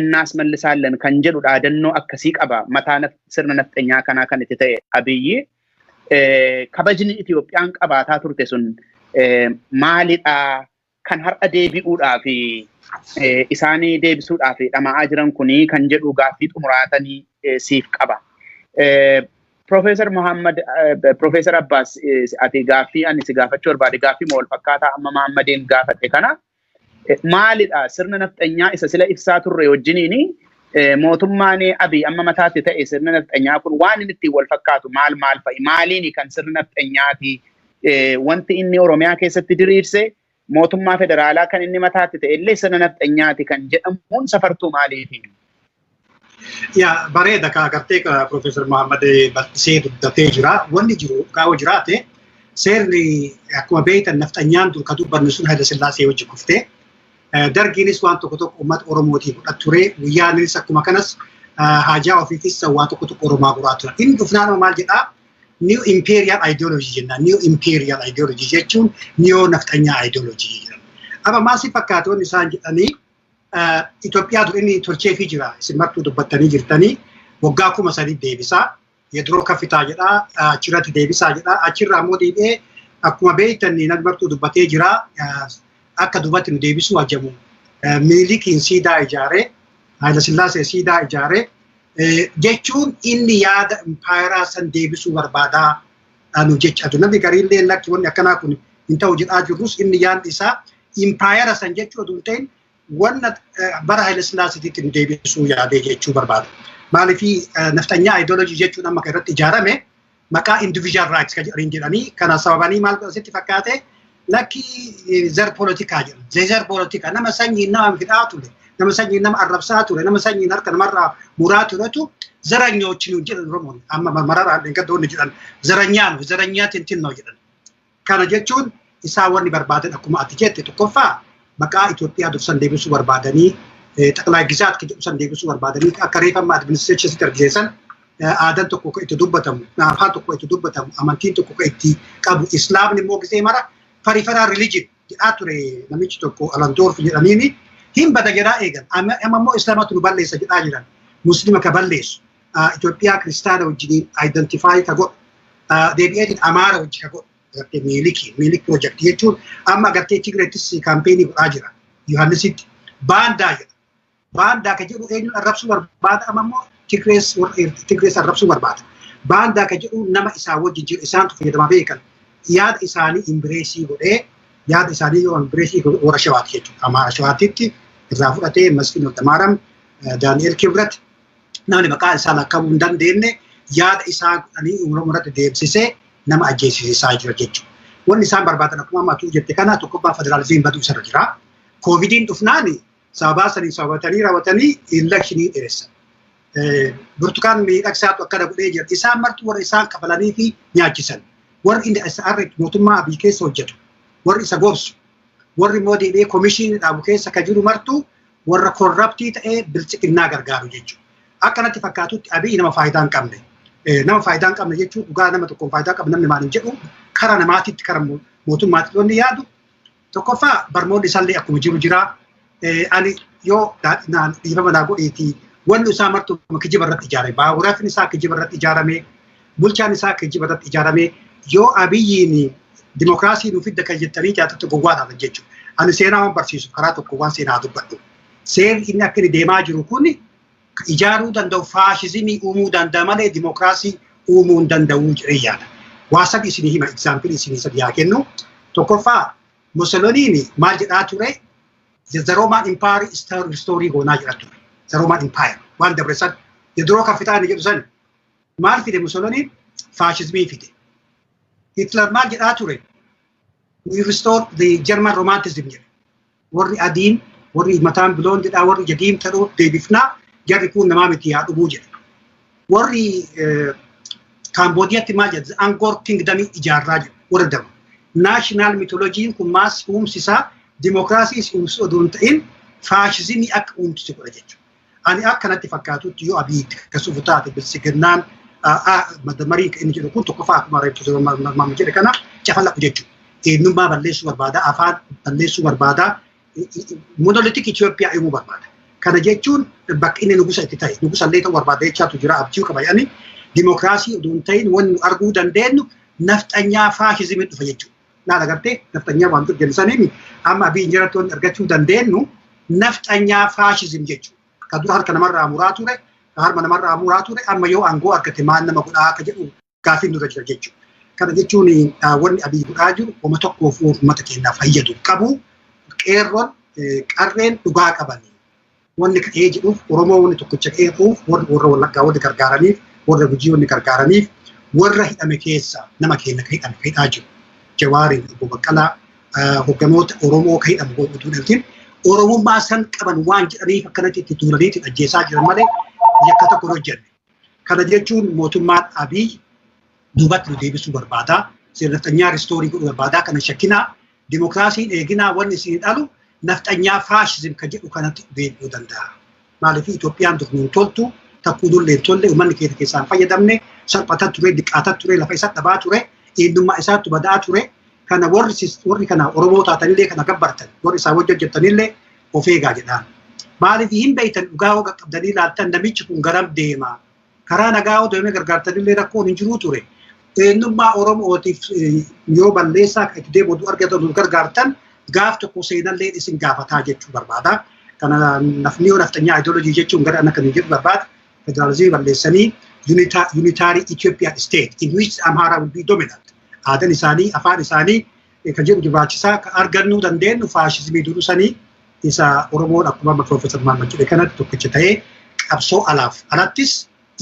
S2: እናasmallisaallen kan jedhu dhaadannoo akkasii qaba. Mataa sirna nafxenyaa kanaa kan itti ta'e Abiyyi kabajni Itoophiyaan qabaataa turte sun maalidhaa? Kan har'a deebi'uudhaa fi isaanii deebisuudhaa fi dhama'aa jiran kunii kan jedhu gaaffii xumuraatanii siif qaba. Profeesar Muhammad, Profeesar Abbaas ati gaaffii ani si gaafachuu barbaade gaaffii moo wal fakkaataa amma Muhammadiin gaafadhe kana maalidha sirna nafxanyaa isa sila ibsaa turre wajjiniin mootummaan abii amma mataatti ta'e sirna nafxanyaa kun waan inni ittiin wal fakkaatu maal maal fa'i maaliini kan sirna nafxanyaati wanti inni Oromiyaa keessatti diriirse mootummaa federaalaa kan inni mataatti ta'e illee sirna nafxanyaati kan jedhamuun safartuu maaliifi?
S3: Yaa bareeda kaa gartee ka Profeesar Muhammad bal'isee dubbatee jira. Wanni jiru gaa'oo jiraate seerri akkuma beektan nafxanyaan dur ka dubbanne sun Hayila Sillaasee wajji kuftee dargiinis waan tokko tokko uummata Oromootii fudhat ture guyyaaniis akkuma kanas haajaa ofiitis waan tokko tokko Oromaa guraa ture. Inni dhufnaan maal jedhaa new imperial ideology jenna new imperial ideology jechuun new nafxanyaa ideology jedhama. Amma maal si fakkaata wanni isaan jedhanii Itoophiyaatu inni tolcheefii jira isin martuu dubbattanii jirtanii waggaa kuma sadii deebisaa yediroo kafitaa jedhaa achirratti deebisaa jedhaa achirraa immoo deebi'ee akkuma beektan namni martuu dubbatee jira akka dubatti nu deebisuu ajamu miilikiin siidaa ijaaree Haayilasillaasee siidaa ijaaree jechuun inni yaada impaayeraa san deebisuu barbaadaa dhaanu jechaa jiru. Namni gariillee lakki wanni akkanaa kun hin ta'u jedhaa jirrus inni yaadni isaa impaayera san jechuu oduu hin ta'in wanna bara Haile Sillaasitiitiin deebisuu yaadee jechuu barbaada. Maaliif nafxanyaa ideology jechuun amma kan irratti ijaarame maqaa individual rights kan jedhanii jedhanii kana sababanii maal asitti fakkaate lakki zar polotikaa jedhu zezar polotikaa nama sanyiin nama fidhaa ture nama sanyiin nama arrabsaa ture nama sanyiin harka namarraa muraa turetu zaranyoochi nuun jedhan oromoon amma mararaan dheengaddoonni jedhan zaranyaa nu zaranyaa tintinnoo jedhan kana jechuun isaa wanni barbaadan akkuma ati jette tokkoffaa maqaa Itoophiyaa dursan deebisuu barbaadanii xaqlaa gizaat kan jedhu san deebisuu barbaadanii akka reefamma administreeshinsitti argisiisan aadaan tokko kan itti dubbatamu, afaan tokko itti dubbatamu, amantiin tokko kan itti qabu, islaamni immoo gisee mara farifaraa religion jedhaa ture namichi tokko alandoorf jedhaniini hin bada jedhaa eegan. Amma immoo islaamatu nu balleessa jedhaa jiran. Muslima ka balleessu. Itoophiyaa kiristaana wajjiniin identify ka godhu. Deebi'eetiin amaara wajji ka godhu. Agartee miiliki, miilik pirojekti jechuun amma agartee Tigreettis kaampeenii godhaa jira. Yohaannisitti baandaa jedha. Baandaa kan jedhu eenyuun arrabsuu barbaada amma immoo Tigrees Tigrees arrabsuu barbaada. Baandaa kan jedhu nama isaa wajjin jiru isaantu fayyadamaa beekan. Yaada isaanii imbireesii godhee yaada isaanii yoo imbireesii godhe warra shawaati jechuudha. Amaara shawaatitti irraa fudhatee Masfin Waldamaaram, Daani'el Kibrat namni maqaa isaa lakkaa'uu hin dandeenye yaada isaa godhanii Oromoo irratti deemsisee nama ajjeesisaa jira jechuudha. Wanni isaan barbaadan akkuma amma atuu jette kana tokkoffaa federaalizimiin baduu isarra jira. Koovidiin dhufnaani sababaa sanii sababatanii raawwatanii elekshinii dheeressan. Burtukaan miidhagsaatu akkana godhee jira. Isaan martuu warra isaan kafalanii fi nyaachisan. Warri inni SR mootummaa Abiy keessa hojjetu. Warri isa gorsu. Warri immoo deebi'ee komishinii dhaabu keessa kan jiru martuu warra korraptii ta'ee bilchiqinnaa gargaaru jechuudha. Akka natti fakkaatutti Abiy nama faayidaa hin qabne. Nama faayidaa hin qabne jechuun dhugaa nama tokkoon faayidaa qabu namni maal hin jedhu karaa namaatitti karaa mootummaatti wanni yaadu Tokkoffaa barnoonni isaallee akkuma jiru jira. Ani yoo dhiifama naa godheeti wanni isaa martuu kijiba irratti ijaarame. Baaburaafin isaa kijiba irratti ijaarame. Bulchaan isaa kijiba irratti ijaarame. Yoo abiyyiin dimokiraasii nu fidda kan jettanii jaatatti gowwaa taatan jechuudha. Ani seenaa waan barsiisu karaa tokko waan seenaa dubbadhu. Seerri inni akka inni deemaa jiru kun ijaaruu danda'u faashizimii uumuu danda'a malee dimokiraasii uumuu hin danda'u jedhee yaada. Waa sadi isinii hima egzaampilii isinii sadi haa kennu. Tokkoffaa Musoloniin maal jedhaa ture? The Roman Empire is restoring goonaa jedhaa ture. The Roman Empire waan dabre san yediroo kafitaani jedhu san maal fide Musoloniin faashizimii fide. Hitler maal jedhaa ture? We restore the German romanticism jedhe. warri adiin warri mataan biloondidhaa warri ija diimtadhoo deebifnaa jarri kun namaa miti yaa dhumuu jedha warri kaamboodiyatti maal jedha angoor kingdamii ijaarraa jedha warra dama naashinaal mitolojiin kun maas uumsisaa dimookiraasii uumsisu odoo hin ta'in faashizimii akka uumsisu godha jechuudha. Ani akka natti fakkaatutti yoo Abiy itti kasuuf taate bilsiginnaan madamarii inni jedhu kun tokkoffaa akkuma reebtu mamma jedhe kana cafalaqu jechuudha. Eenyummaa balleessuu barbaada, afaan balleessuu barbaada, monolitik Itoophiyaa uumuu barbaada. Kana jechuun bakka inni nugusa itti ta'e, nugusa illee ta'uu barbaada jechaatu jira abjuu qaba jedhanii dimookiraasii utuu hin ta'in wanni nu arguu dandeenyu nafxanyaa faashizimii dhufa jechuudha. laata gartee nafxanyaa waan jedhu saniin amma abii injirattoon argachuu dandeenyu nafxanyaa faashizim jechuudha. Ka dura harka namarraa muraa ture, ka harma namarraa muraa ture, amma yoo aangoo argate maal nama godhaa akka jedhu gaafiin nurra jira jechuudha. Kana jechuun wanni abii godhaa jiru wama tokkoof uummata keenyaaf fayyadu qabu qeerroon qarreen dhugaa qabanii Wanni ka'ee jedhuuf Oromoo wanni tokkicha qeequuf warra Wallaggaa wanni gargaaraniif warra Gujii wanni gargaaraniif warra hidhame keessa nama keenya ka hidhame ka hidhaa jiru Jawaariin Obbo Baqqalaa hogganoota Oromoo ka hidhamu godhuutu dhaltiin Oromummaa san qaban waan jedhaniif akkanatti itti duulaniitiin ajjeesaa jiran malee yakka tokko hin hojjenne. Kana jechuun mootummaan Abiy duubatti nu deebisuu barbaada. Sirna nafxanyaa ristoorii godhuu barbaada. Kana shakkinaa dimokiraasiin eeginaa wanni isin dhalu nafxanyaa faashizim ka jedhu kanatti deebi'uu danda'a. Maaliif Itoophiyaan dur nuun toltu takkuu nullee hin tolle uummanni keenya keessaan fayyadamne salphata ture diqqaata ture lafa isa dhabaa ture eenyummaa isaattu badaa ture kana warri kana Oromoo taatanillee kana gabbartan warri isaa wajji hojjettanillee of eegaa jedhaan. Maaliif hin beektan dhugaa hoo qaqqabdanii ilaaltan namichi kun garam deema. Karaa nagaa hoo deemee gargaartanillee rakkoon hin jiruu ture. Eenyummaa Oromootiif yoo balleessaa itti deemuutu argatan nu gargaartan gaaf tokko seenallee isin gaafataa jechuu barbaada. Kana nafni yoo nafxanyaa ideology jechuun gara akka jedhu barbaada. Federaalizimii balleessanii unitaarii Ethiopian state in which Amhara will be dominant. Aadan isaanii, afaan isaanii, ka jedhu dibaachisaa ka argannuu dandeenyu faashismii durusanii isa Oromoon akkuma amma Piroofeesar Mahammad jedhe kanatti tokkicha ta'ee qabsoo alaaf alattis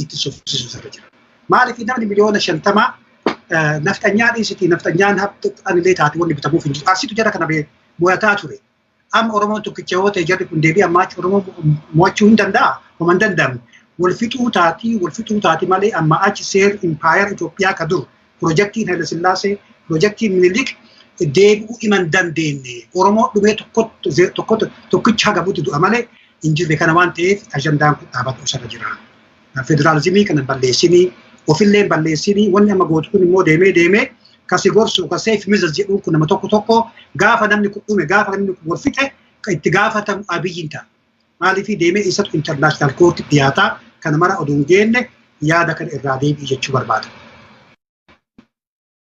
S3: itti sufsiisu irra jira. Maaliif namni miliyoona shantamaa nafxanyaa dhiisitii nafxanyaan haftu anillee taate wanni bitamuuf hin jiru. Arsiitu jara kana bee mo'ataa ture. Amma Oromoon tokkicha yoo ta'e jarri kun deebi'an maacha Oromoo mo'achuu hin danda'a? Homa hin danda'amne. Wal fixuu taati, wal fixuu taati malee amma achi seer impaayar Itoophiyaa ka dur pirojektiin Haile Sillaasee, pirojektiin Minilik deebi'uu ima hin dandeenye. Oromoo dhumee tokkotti ze- tokkotti tokkicha hagabutti du'a malee hin jirre kana waan ta'eef ajandaan kun dhaabatuu isarra jira. federaalizimii kana balleessinii ofillee balleessinii wanni amma gootu kun immoo deemee deemee ka si gorsu ka seef mizaz jedhuun kun nama tokko tokko gaafa namni kun dhume gaafa namni kun wal fixe ka itti gaafatamu abiyyiin ta'a. Maaliif deemee isatu intarnaashinaal koorti dhiyaataa kana mara oduu hin geenne yaada kana irraa deebi'i jechuu barbaada.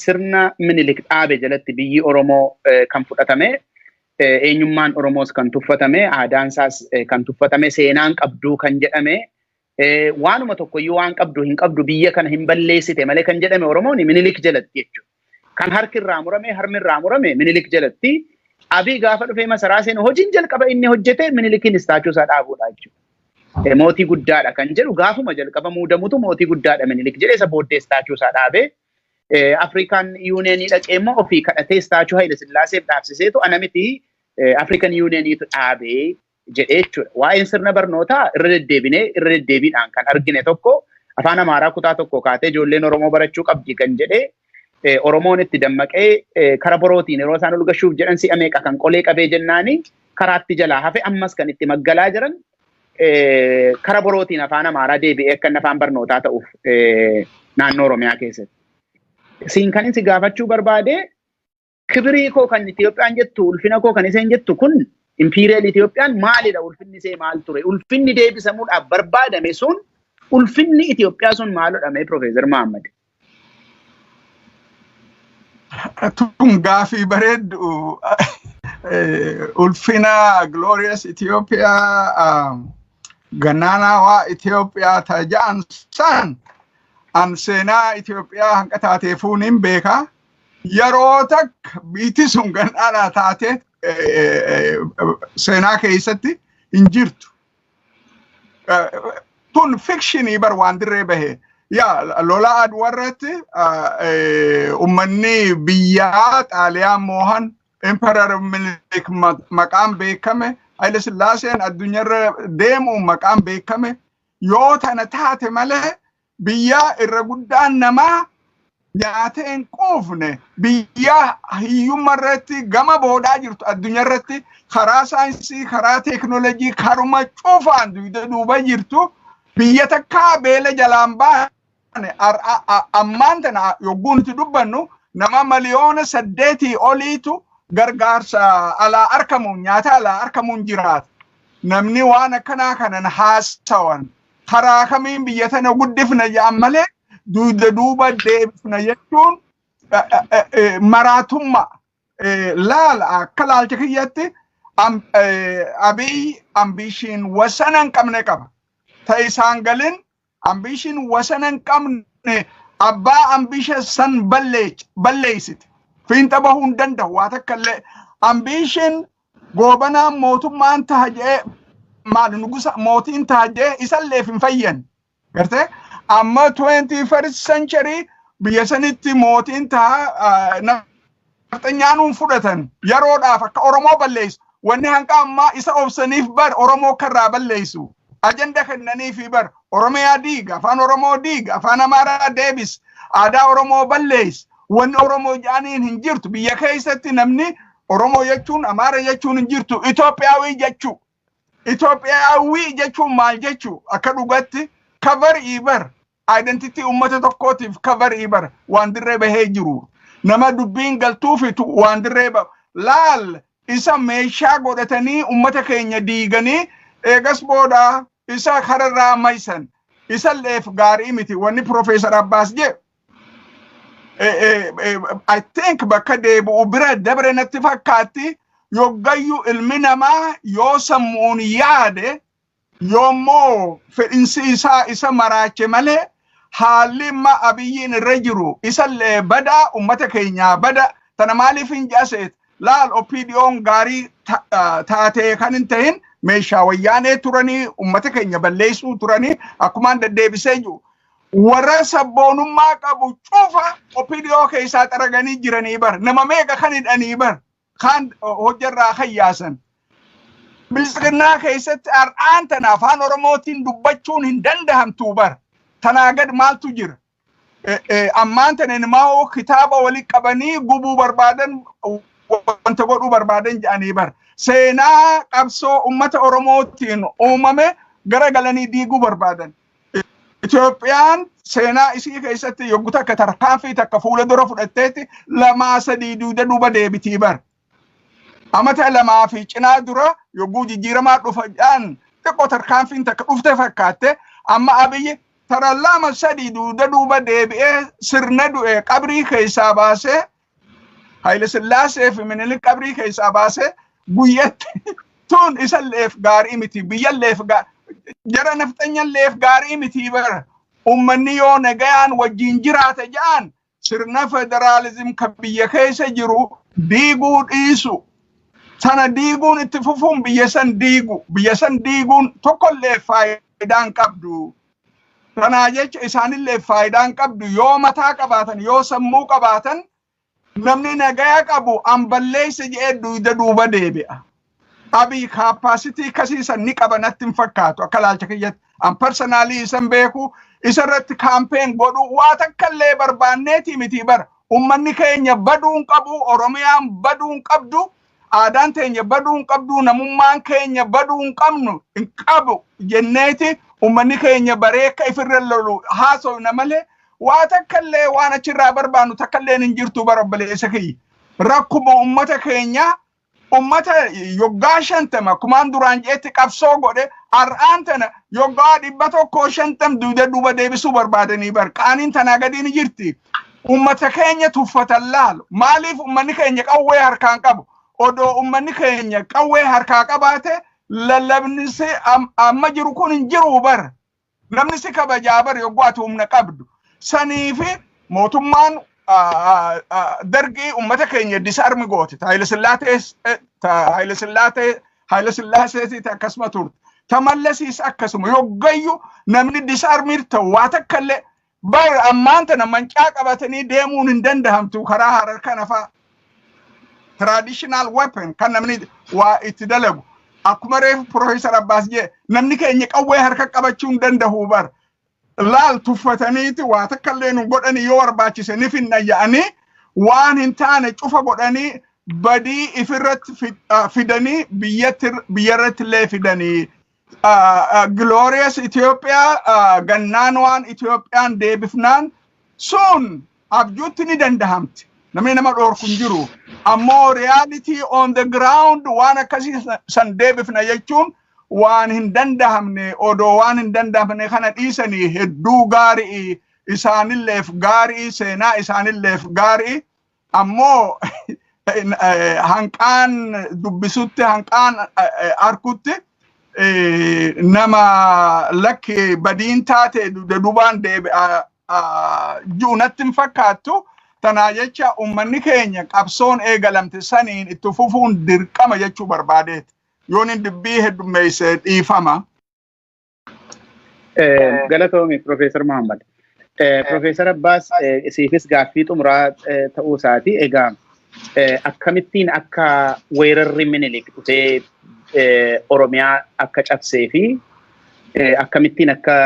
S2: sirna Minilik dhaabe jalatti biyyi Oromoo kan fudhatame, eenyummaan Oromoos kan tuffatame, aadaan isaas kan tuffatame, seenaa hin qabdu kan jedhame, waanuma tokkoyyuu waan qabdu hin qabdu biyya kana hin balleessite malee kan jedhame Oromoon Minilik jalatti jechuudha. Kan harki irraa murame, harmi irraa murame Minilik jalatti. Abiy gaafa dhufee masaraa seenu hojiin jalqaba inni hojjete Minilikiin istaachuu isaa dhaabuudha jechuudha. E, Mootii guddaadha kan jedhu gaafuma jalqaba muudamutu mootii guddaadha minilik jedhe isa booddee istaachuu isaa dhaabe. E, Afrikaan yuuneenii dhaqee immoo ofii kadhatee istaachuu Hayila Sillaaseef dhaabsiseetu ana miti e, Afrikan yuuneeniitu dhaabe jedhee jechuudha. Waa'een sirna barnootaa irra deddeebinee irra deddeebiidhaan kan argine tokko afaan Amaaraa kutaa tokko kaatee ijoolleen Oromoo barachuu qabdi kan jedhee Oromoon itti dammaqee kara borootiin yeroo isaan ol gashuuf jedhan si'a meeqa kan qolee qabee jennaani karaatti jalaa hafe ammas kan itti maggalaa jiran kara borootiin afaan Amaaraa deebi'ee akka inni afaan barnootaa ta'uuf naannoo Oromiyaa keessatti. Siin kan inni si gaafachuu barbaade kibirii koo kan Itoophiyaan jettu ulfina koo kan isheen jettu kun impiiriyal Itoophiyaan maalidha ulfinni ishee maal ture ulfinni deebisamuudhaaf barbaadame sun ulfinni Itoophiyaa sun maalodha mee Piroofeesar Mahammad.
S1: Tun gaafii bareeddu ulfina Glorious Ethiopia gannaanaawaa Itoophiyaa ta'a ja'an san an seenaa Itoophiyaa hanqa taateefuun hin beekaa. Yeroo takka biitti sun gandhaadhaa taatee seenaa keessatti hin jirtu. Kun fikshinii bar waan dirree bahee. Yaa lola aduu irratti uummanni biyyaa xaaliyaan moohan Emperor Minilik maqaan beekame Haile Sillaaseen addunyaarra deemuun maqaan beekame yoo tana taate malee biyyaa irra guddaan namaa nyaatee hin quufne biyyaa hiyyumma irratti gama boodaa jirtu addunyaa irratti karaa saayinsii karaa teeknoolojii karuma cufaan duyda duuba jirtu biyya takkaa beela jalaan baane ammaan tana yogguu nuti dubbannu nama miliyoona saddeetii oliitu gargaarsa alaa arkamuun nyaata alaa arkamuun jiraata. Namni waan akkanaa kanan haasawan karaa kamiin biyya tana guddifna jedhan malee dugda duuba deebifna jechuun eh, eh, eh, maraatummaa eh, laala akka laalcha kiyyatti am- eh, abiy ambiishiin wasana hin qabne qaba. Ta isaan galin ambiishiin wasana hin qabne abbaa ambiisha san balleech- balleeysite. Fiinxa bahuu hin danda'u waa takka illee ambiishiin Goobanaan mootummaan taha jee maal nugusa mootiin taha jee isalleef hin fayyan. Gartee amma 21st century biyya sanitti mootiin taha ah, nafxanyaanuun fudhatan yeroodhaaf akka Oromoo balleessu. Wanni hanqa ammaa isa obsaniif bar Oromoo akka irraa balleessu. Ajanda kennaniifi bar Oromiyaa diiga, afaan Oromoo diiga, afaan Amaaraa deebis, aadaa Oromoo balleessi. Wanni Oromoo jaaniin hin jirtu. Biyya keessatti namni Oromoo jechuun Amaara jechuun hin jirtu. Itoophiyaawii jechuu. Itoophiyaawii jechuun maal jechuu? Akka dhugatti cover iibar identity uummata tokkootiif cover iibar waan dirree bahee jiru. Nama dubbiin galtuufitu waan dirree ba laal isa meeshaa godhatanii uummata keenya diiganii eegas booda isa kararraa maysan isa leef gaarii miti wanni Profeesar Abbaas jee eh, eh, eh, I think bakka deebi'u bira dabre natti fakkaatti yoggayyu ilmi namaa yoo sammuun yaade yoommoo fedhinsi isaa isa maraache malee haalli imma abiyyiin irra jiru isallee badaa ummata keenyaa bada tana maaliif hin jaaseet laal opdiyoon gaarii ta- ah, taatee kan hin tahin meeshaa wayyaanee turanii ummata keenya balleessuu turanii akkumaan deddeebisee jiru Warra sabboonummaa qabu cufa OPDO keessaa xaraganii jiranii bar. Nama meeqa kan hidhanii bar. Kaan hojjarraa kan yaasan. Bilisiqinnaa keessatti har'aan tana afaan Oromootiin dubbachuun hin dandahamtuu bar. Tanaa gad maaltu jira? Ammaan tana ilmaa'oo kitaaba walitti qabanii gubuu barbaadan wanta godhuu barbaadan jedhanii bar. Seenaa qabsoo uummata Oromootiin uumame gara galanii diiguu barbaadan. Itoophiyaan seenaa isii keessatti yoggu takka tarkaanfii takka fuula dura fudhatteetti lamaa sadii duuda duuba deebitii bar. Amata lamaa fi cinaa dura yogguu jijjiiramaa dhufadhaan xiqqoo tarkaanfiin takka dhufte fakkaatte amma abiyyi tara lama sadii duuda duuba deebi'ee sirna du'e qabrii keessaa baasee Haile Sillaasee fi Minilik qabrii keessaa baasee guyyatti tun isalleef gaarii miti biyyalleef jara nafxanyalleef gaarii miti bara ummanni yoo nagayaan wajjin jiraate ja'an sirna federaalizim kan biyya keessa jiru diiguu dhiisu sana diiguun itti fufuun biyya san diigu biyya san diiguun tokkollee faayidaan qabdu Kanaa jecha isaanillee faayidaan qabdu yoo mataa qabaatan yoo sammuu qabaatan namni nagaya qabu an balleesse jedhee duyda duuba deebi'a. Abiy kaappaasitii kasii san ni qaba natti hin fakkaatu akka laalcha kiyyatti an parsanaalii isan beeku isarratti kaampeen godhu waa takkallee barbaanneetii miti bara ummanni keenya baduun qabu oromiyaan baduun qabdu aadaan teenya baduu hin qabdu, namummaan keenya baduu hin qabnu hin qabu jenneeti ummanni keenya baree akka ifirra lolu haasofna malee waa takkallee waan achirraa barbaannu takkalleen hin jirtu bara obboleessa kiyya. Rakkuma ummata keenyaa ummata yoggaa shantama kumaan duraan jeetti qabsoo godhe har'aan tana yoggaa dhibba tokkoo shantam duuda duuba deebisuu barbaadanii bar qaaniin tanaa gadii ni jirti Uummata keenya tuffatan laalu. Maaliif uummanni keenya qawwee harkaan qabu? Odoo uummanni keenya qawwee harkaa qabaate lallabni si am- amma jiru kun hin jiru bar. Namni si kabajaa bar yogguu ati humna qabdu. Sanii fi mootummaan ah, ah, ah, dargii uummata keenya disarmi goote. Ta Haile Sillaatees- eh, ta Haile Sillaatee- Haile Sillaaseetiis akkasuma turte. Ta Mallasiis akkasuma. Yoggayyu namni disarmiir ta'u waa takka illee Bar ammaan tana mancaa qabatanii deemuun hin dandahamtu karaa Harar kana faa traditional weapon kan namni waa itti dalagu akkuma reefu Professor Abbaas jee namni keenya qawwee harka qabachuu hin dandahu bar laal tuffataniiti waa takka illee nu godhanii yoo barbaachise ni finna ya'anii waan hin taane cufa godhanii badii ifirratti fi- ah, fidanii biyyatti biyyarratti illee fidanii Glorious Itoophiyaa gannaan waan Itoophiyaan deebifnaan sun abjuutti ni dandahamti. Namni nama dhoorku hin jiru. Ammoo reality on the ground waan akkasii san deebifna jechuun waan hin dandahamne odoo waan hin dandahamne kana dhiisanii hedduu gaarii isaanilleef gaarii seenaa isaanilleef gaarii Ammoo hanqaan dubbisutti hanqaan arkutti nama lakki badiin taate dudubaan deebi'a ji'u natti hin fakkaattu. Tanaa jecha uummanni keenya qabsoon eegalamte saniin itti fufuun dirqama jechuu barbaadeeti. Yoon dubbii heddummeesse dhiifama.
S2: Galatoomi Profeesar Muhammad. Profeesar Abbaas siifis gaaffii xumuraa ta'uu isaati. Egaa akkamittiin akka weerarri minilik dhufee Oromiyaa akka cabsee fi akkamittiin akka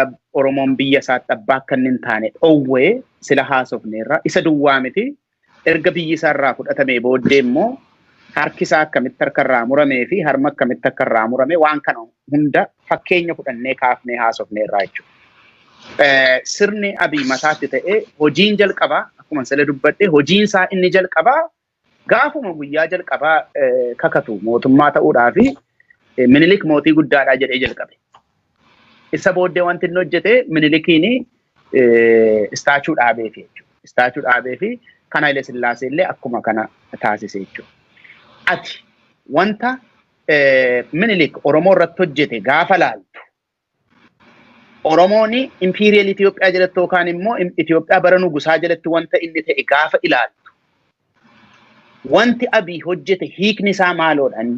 S2: Oromoon biyya isaatti abbaa akka inni hin taane dhowwee sila haasofneerra. Isa duwwaa miti erga biyyi isaa irraa fudhatamee booddee immoo harki isaa akkamitti harka irraa muramee fi harma akkamitti akka irraa murame waan kana hunda fakkeenya fudhannee kaafnee haasofnee irraa jechuudha. Sirni abii mataatti ta'ee hojiin jalqabaa akkuma sila dubbadhe hojiin isaa inni jalqabaa gaafuma guyyaa jalqabaa kakatu mootummaa ta'uudhaa fi minilik mootii guddaadhaa jedhee jalqabe. Isa booddee wanti inni hojjete Minilikiin istaachuu dhaabee fi istaachuu dhaabee fi kan Haile Sillaasee illee akkuma kana taasise jechuudha. Ati wanta Minilik Oromoo irratti hojjete gaafa laaltu Oromoon impiiriyal Itoophiyaa jalatti yookaan immoo Itoophiyaa bara nugusaa jalatti wanta inni ta'e gaafa ilaaltu wanti Abiy hojjete hiikni isaa maaloodhaan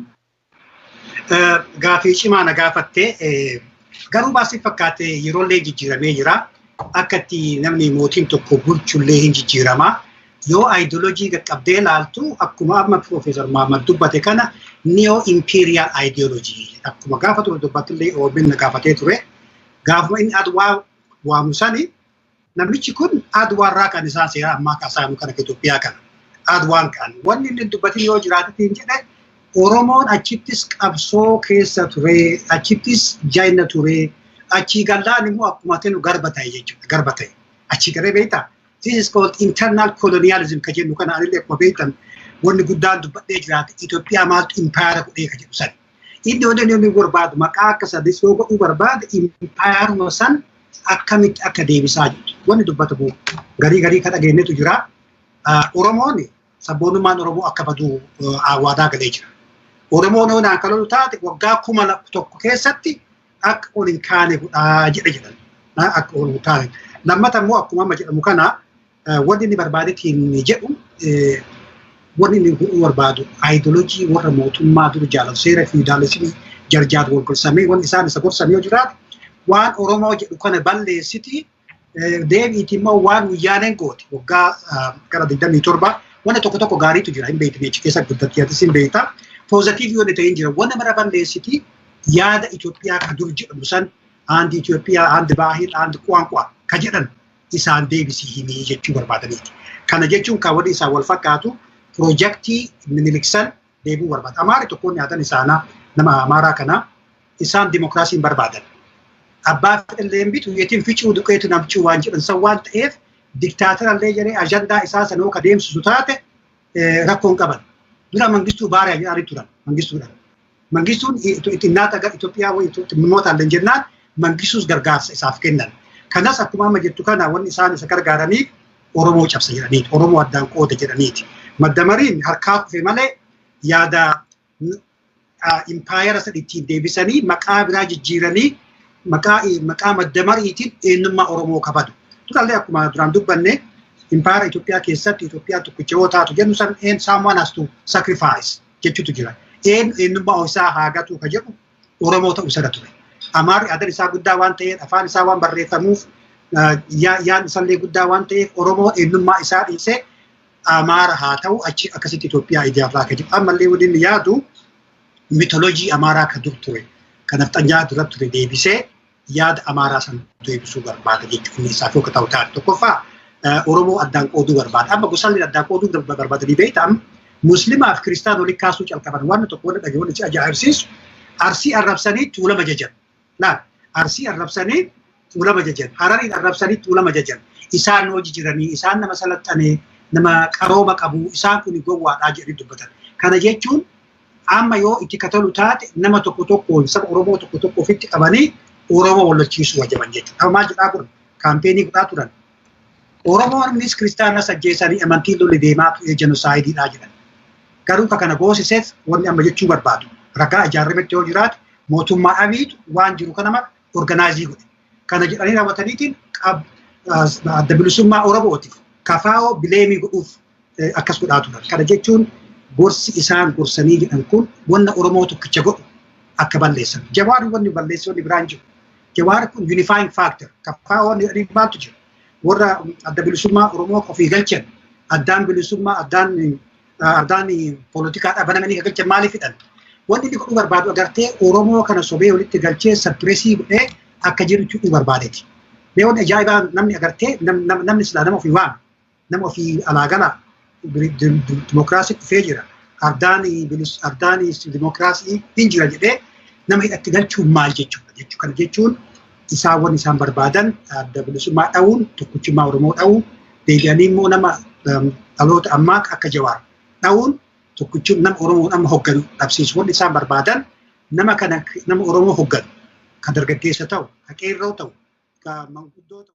S3: Gaafii cimaa na gaafatte garuu baasii fakkaate yeroollee jijjiiramee jira. Akka itti namni mootiin tokko bulchullee hin jijjiirama. Yoo ayidooloojii qaqqabdee ilaaltu akkuma amma Piroofeesar Mahammad dubbate kana neo imperial ideology akkuma gaafa ture dubbattillee OBN gaafatee ture. Gaafuma inni adwaa waamu sani Namnichi kun Adwaarraa kan isaa seera ammaa kaasaanu kana Itoophiyaa kana. Adwaan kan wanni inni dubbatin yoo jiraatetiin jedhe Oromoon achittis qabsoo keessa ture, achittis jaina ture, achii gallaan immoo akkuma tenu garba ta'e jechuudha. Garba ta'e. Achii galee beekta. This is called internal colonialism ka jennu kana anillee akkuma beektan wanni guddaan dubbadhee jiraate Itoophiyaa maaltu impaayara godhee ka jedhu sani. Iddoo inni inni barbaadu maqaa akka sadis yoo godhuu barbaade impaayaruma san akkamitti akka deebisaa jirtu wanni dubbatamu garii garii ka dhageenyetu jira. Oromoon sabboonummaan Oromoo akka badu waadaa galee jira. Oromoon yoo naan kalolu taate waggaa kuma tokko keessatti akka ol hin kaane godhaa jedhe jedhan. Akka ol hin kaane. Lammata immoo akkuma amma jedhamu kana Wanti inni barbaade tiimni jedhu wanni inni godhuu barbaadu aayidolojii warra mootummaa dura jaalatu seera fiidaalismii jarjaatu wal gorsamee wanni isaan isa gorsan yoo jiraate waan Oromoo jedhu kana balleessiti deebiiti immoo waan wayyaaneen goote waggaa gara 27 wanna tokko tokko gaariitu jira hin beekne achi keessa guddatti yaatis hin beekta poozatiivii wanni ta'e hin jira wanna mara balleessiti yaada Itoophiyaa ka dur jedhamu san aandi Itoophiyaa aandi baahil aandi quwaanqwaa ka jedhan isaan deebisi himii jechuu barbaadaniiti. Kana jechuun kan waliin isaan wal fakkaatu piroojaktii miniliksan deebuu barbaada. Amaari tokkoon nyaatan isaanaa nama amaaraa kana isaan dimokiraasii hin barbaadan. Abbaa fedhallee hin bitu yetiin ficuu duqeetu namcuu waan jedhan san waan ta'eef diktaatarallee jedhee ajandaa isaa sana yoo kadeemsisu taate rakkoon qaban. Dura mangistuu baariyaa jedhanii turan mangistuudhaan. Mangistuun xinnaata gara Itoophiyaa xinnootaan illee jennaan mangistuus gargaarsa isaaf kennan. Kanas akkuma amma jettu kana wanni isaan isa gargaaraniif Oromoo cabsa jedhaniiti. Oromoo addaan qooda jedhaniiti. Maddamariin harkaa kufe malee yaada impaayera san ittiin deebisanii maqaa biraa jijjiiranii maqaa maqaa maddamariitiin eenyummaa Oromoo kabadu. Durallee akkuma duraan dubbanne impaayera Itoophiyaa keessatti Itoophiyaa tokkicha yoo taatu jennu san saamuwaan hastu sacrifice. jechutu jira. Een eenyummaa ofisaa haa gatuu ka jedhu Oromoo ta'uu isarra ture. Amaarri adan isaa guddaa waan ta'eef afaan isaa waan barreeffamuuf yaan isallee guddaa waan ta'eef Oromoo eenyummaa isaa dhiisee Amaara haa ta'u achi akkasitti Itoophiyaa ijaarraa ka jedhu. Ammallee wanni inni yaadu mitoloojii Amaaraa ka dur ture. Kanaaf xanyaa dura ture deebisee yaada Amaaraa san deebisuu barbaada jechuun inni isaaf akka ta'u taate tokkoffaa Oromoo addaan qooduu barbaada. Amma gosaan inni addaan qooduu barbaadanii beektaa Muslimaa fi Kiristaan waliin kaasuu calqaban waan tokko wanta dhaga'u wanta ajaa'ibsiisu arsii arrabsanii tuulama jajan. Laal arsii arrabsanii tuulama jajan harariin arrabsanii tuulama jajan isaan hojii jiranii isaan nama salaxanee nama qarooma qabu isaan kun gowwaadhaa jedhanii dubbatan. Kana jechuun Amma yoo itti katalu taate nama tokko tokkoon saba Oromoo tokko tokko ofitti qabanii Oromoo wallachiisuu wajaban jechuudha. Amma maal jedhaa kun kaampeenii godhaa turan. Oromoonnis kiristaanas ajjeesanii amantiin lolli deemaa ture jenoosaayididhaa jedhan. Garuu ka kana goosiseef wanni amma jechuu barbaadu ragaa ijaarametti yoo jiraate mootummaa abiitu waan jiru kana mara organaayizii godhe. Kana jedhanii raawwataniitiin adda bilisummaa Oromootiif kafaa'oo bileemii godhuuf akkas godhaa turan. Kana jechuun gorsi isaan gorsanii jedhan kun wanna Oromoo tokkicha godhu akka balleessan. Jawaar wanni balleessoonni biraan jiru. Jawaar kun unifying factor. Kaffaa wanni jedhanii maaltu jira? Warra adda bilisummaa Oromoo ofii galchan addaan bilisummaa addaan addaan poolitikaadhaa banamanii kan galchan maaliif hidhan? Wanni inni godhuu barbaadu agartee Oromoo kana sobee walitti galchee sappireesii godhee akka jiru jechuu barbaadeti. Mee wanni ajaa'ibaa namni agartee namni silaa nama ofii waame nama ofii alaa galaa dimokiraasii dhufee jira ardaan ardaan dimokiraasii hin jira jedhee nama hidhatti galchuun maal jechuudha jechuu kana jechuun isaan wanni isaan barbaadan adda bilisummaa dha'uun tokkichummaa Oromoo dha'uu deebi'anii immoo nama dhaloota ammaa akka jawaar dha'uun tokkichummaa nama Oromoo amma hogganu dhabsiisu wanni isaan barbaadan nama kana nama Oromoo hogganu kan dargaggeessa ta'u kan qeerroo ta'u kan manguddoo ta'u.